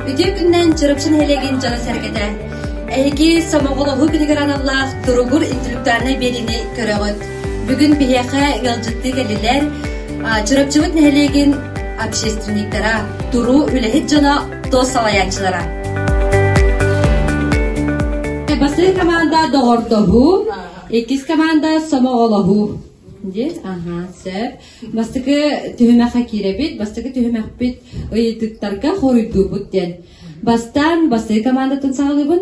Үтүө күннэн Чурапчы нэһилиэгин дьоно-сэргэтэ! Эһиги Сомоҕолоһуу күнүгэр аналлаах туругур интеллектуальнай биэриини көрөҕүт. Бүгүн биһиэхэ ыалдьыттыы кэллилэр Чурапчыбыт нэһилиэгин общественниктара, туруу үлэһит дьоно Тос салайааччылара. Бастыыр команда доҕордоһуу, иккис команда сомоҕолоһуу. Дии, аха, сөп. Бастыкы түһүмэххэ киирэбит, бастыкы түһүмэхпит ыйытыктарга хоруйдуубут диэн. Бастаан бастыы командатын саҕалыыбын.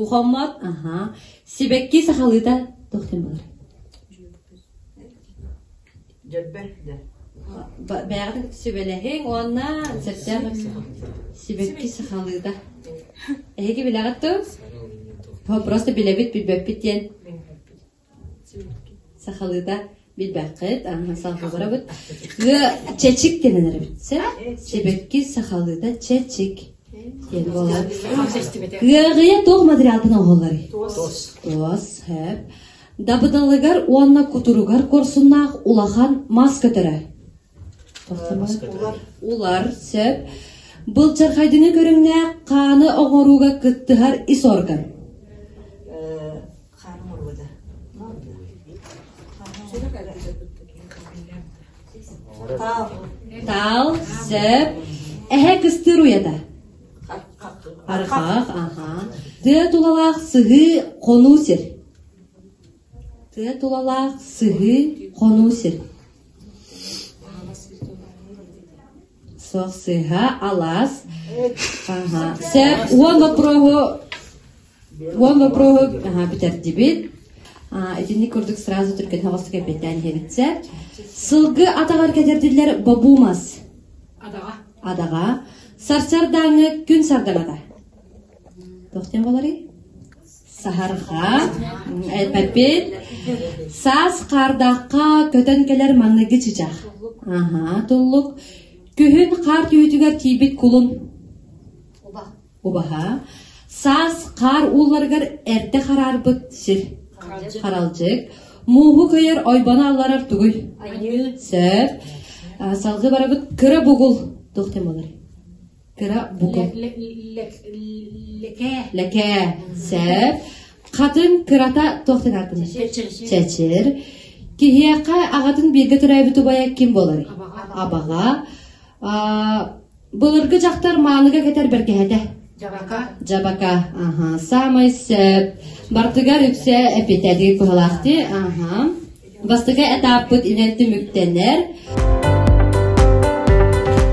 Ухаммат сибэкки сахалыыта туохтан булар Бэҕэтик сүбэлэһиҥ уонна сөптөөх сибэкки сахалыыта эһиги билэҕит ту просто билэбит билбэппит диэн Сахалыыта билбэккит, аны салҕабарабыт. Ыа чэчик диэн эрэбит сэ. Сибэкки сахалыыта чэчик диэн буолар. Ыаҕыйа туох материалтан оһоллорүй? Туос. Туос, хэп. Дабыдалыгар уонна кутуругар корсуннаах улахан мас көтөрөр. Улар, сөп. Былчархайдыны көрүҥнээх хааны оҥорууга кыттыһар ис орган. Хаан муруода. Таал, сөп. Эһэ кыстыыр уйата. Арҕаах, аһаан. Тыа тулалаах сыһыы, хонуу сир. Тыа тулалаах сыһыы, хонуу сир. Суох сыһа, алаас. Сөп. Уон вопроһу Уол обрууһу аһа бүтэрдибит. Итинник курдук сразу түргэн хаҕыстык эппэттээн иһэбитсэп. Сылгы атаҕар кэтэрдиллэр бобумас. Адаҕа. Адаҕа. Сарсардааҥы күн сардаҥата. Тохтен болари? Саһарха, эппит, саас хаардахха көтөн кэлэр манныгы чычах. Аха, туллук, күһүн хаар түһүтүгэр тиийбит кулун. Убаһа саас хаар уулларыгар эртэ хараарбыт сир. Харалдьык мууһу көйөр ойбону алларар тугуй? Сөп. Салгы барабыт кыра бугул тухтым болар. Кыра бугул. Леке. Леке. Сөп. Хатын кырата тухтың атын. Чечир. Киһиэхэ ағатын бииргэ төрөөбүт убайа ким болар? Абаға. Былыргы дьахтар маалыга кэтэр бэргэһэтэ. Дьабака. Дьабака. Аха. Саамай сөп. Бардыгар үксэ эпитэ дии куһалаах дии. Аха. Бастакы этаппыт инэн түмүктэнэр.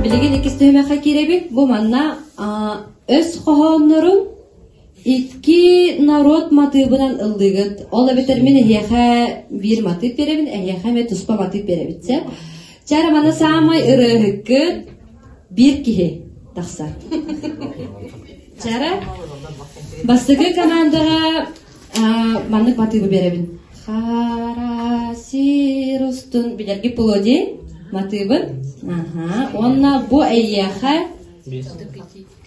Билигин иккис түһүмэххэ киирэбит. Бу манна өс хоһооннорун Икки норуот матыыбынан ыллыгыт. Ол эбэтэр мин эһиэхэ биир матыып биэрэбин, эһиэхэ эмиэ туспа матыып биэрэбит сөп. Чара маны саамай ырыаһыккыт биир киһи тахсар. Чара бастакы командаҕа маннык матыыбы биэрэбин. Хара сир устун билэрги плоди матыыбын. Уонна бу эйиэхэ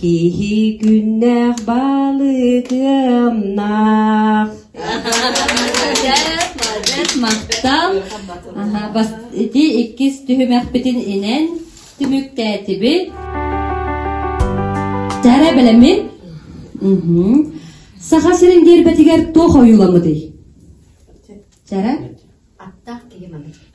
Киһи күннээх балыгымнаах Молодец, махтал. Ити иккис түһүмэхпитин инэн түмүктээтибит. Тәрэ белемин. Саха сирин дербетигер туох ойуламыдый? Тәрэ? Аттаах киһи маныр.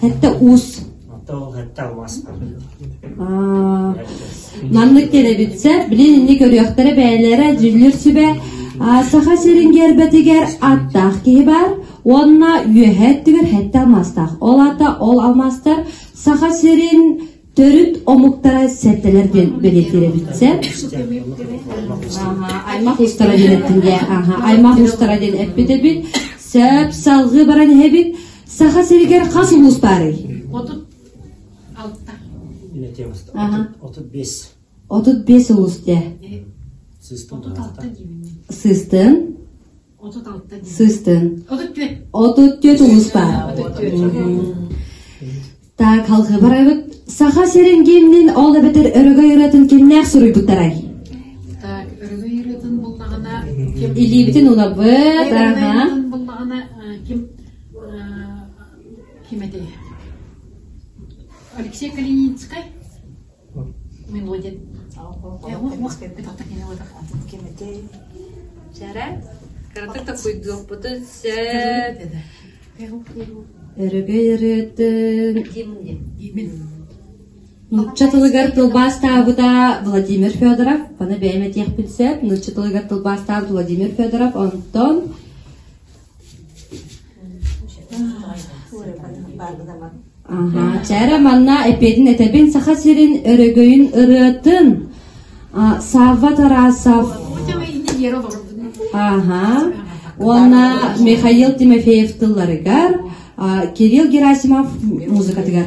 Кэтте уус. Маннык телевидция билин инни көрүөхтэрэ бээлэрэ дьиллир сүбэ Саха сирин гербетигер аттаах киһи бар уонна үөһэ өттүгэр хэтте алмастаах. Ол ата ол алмастар Саха сирин Төрүт омуктара сэртэлэр диэн бэлиэтиирэбит сеп. Аймах устара диэн эттинге аймах устара диэн эппитебит. Сеп салгы баран эһэбит. Саха сиригер хас улус бары? Отут алта. Ине темаста. Отут бес. Отут бес улус те. Сыстын. Сыстын. Сыстын. Отут түөрт улус баар. Так, халхы барабыт. Саха сирин гимнин ол эбэтэр өрөгөй ыратын кимнээх суруйбуттарай? Так, өрөгөй ыратын буллаҕына ким Илиибитин улабыт, аха. буллаҕына ким ким этэй? Алексей Калиницкай? мелодия кэммитин Чара, кыратык такуйдуохпутун сөп. Өрөгөй өрөттөн кимде? Имин. Нучча тылыгар тылбаастаабыта Владимир Федоров. Баны бэйэме тиэхпин сеп. Нучча тылыгар тылбаастаабыт Владимир Федоров. Онтон Чээрэ манна эпиэтин этэбин Саха сирин өрөгөйүн ырыатын Савва Тарасов Ага уонна Михаил Тимофеев тылларыгар Кирилл Герасимов музыкатыгар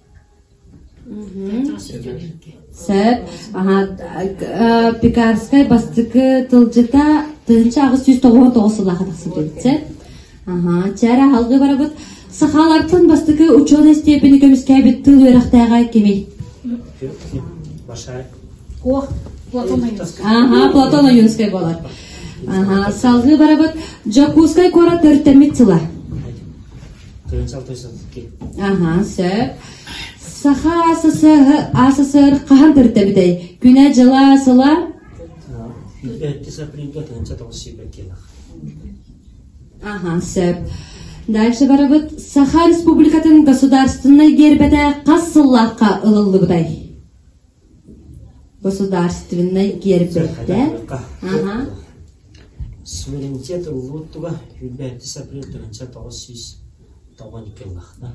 Сөп. Пекарскай бастакы тылдьыта тыһынча аҕыс сүүс тоҕуһун тоҕус сыллаах тахсан кэлбит сөп. Аха, чара алгы барабыт. Сахалартан бастакы ученый степени көмүскээбит тыл үөрэхтээҕэ кими? Ох, Платон Аюнскай. Аха, Платон Аюнскай болар. Аха, салгы барабыт. Дьокуускай куорат төрүттэммит сыла. Аха, сөп. Саха СССР хаһан көрдөбүтэй? Күнэ дьыла сыла? Аха, сөп. Дальше барабыт Саха Республикатын государственной гербете қас сыллаққа ылыллыбытай? государственнай гиэрбэйдээн аха суверенитет ыллууттуга үүрбээти сапрыл тырынча тоҕус сүүс тоҕон икки ыллахта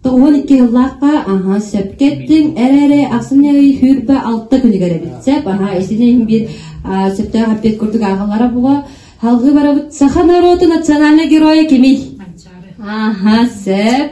тоҕон икки ыллаахха аха сөпкеттин эрэри ахсынай хүрбэ алта күнүгэр эбит сеп аха исинин бир сөптөөх аппет курдук ахалара була халгы барабыт саха норуоту национальный геройа кими аха сеп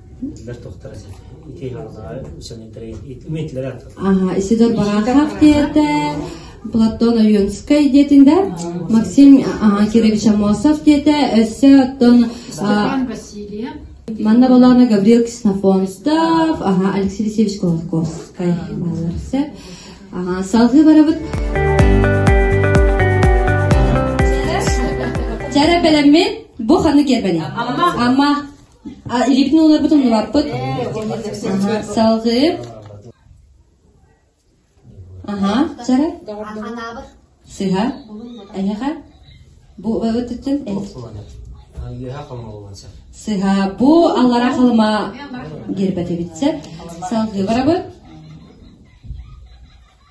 Исидор Барахов тиэрдэ Платон Ойонскай диэтин да Максим Кирович Амосов диэтэ өссө оттон манна болаана Гаврил Ксенофонтов аха Алексей Алексеевич Колотковскай балар сөп аха салгыы барабыт Чара бэлэммит бу ханы киэрбэни Амма Липнэ уларбытын уларпыт, салгыы, аһа, сара, сыһа, эһэхэ, бу ытытын сыһа бу аллара халыма гербэтибитсэ салгыы барабыт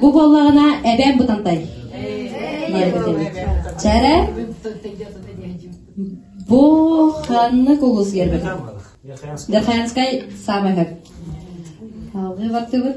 Бу буоллаҕына эбэм бутантай. Чара бу ханнык улус гербетин? Дерхаянскай самый хак. Алгы бартыбыт.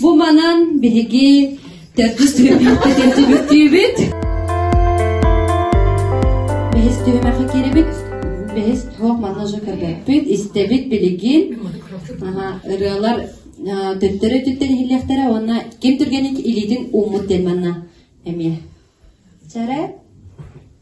Бу манан биһиги төрдүс түһүбүт Бэһис түһүмэхи кирибит бэһис туох манна же көрбөппүт истэбит билигин ырыалар төттөрө төттөр иһиллиэхтэрэ уонна ким түргэнник илиитин ууммут дэн манна эмиэ чара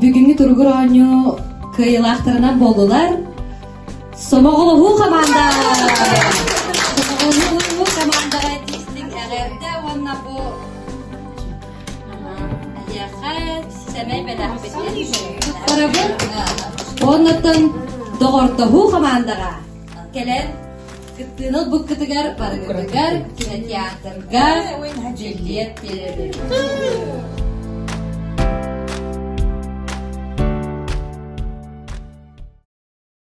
бүгүҥҥү туругур оонньуу кыайыылаахтарынан буоллулар сомоҕолоһуу хамаанда сомоҕолоһуу хамаанда артистик эҕэрдэ уонна бу сэмэй бэлэхпит Тоҕорабын уоннаттан доҕордоһуу хамаандаҕа кэлэн Кыттыыны ылбыккытыгар барыгытыгар кинотеатрга дьиллиэт биэрэрим.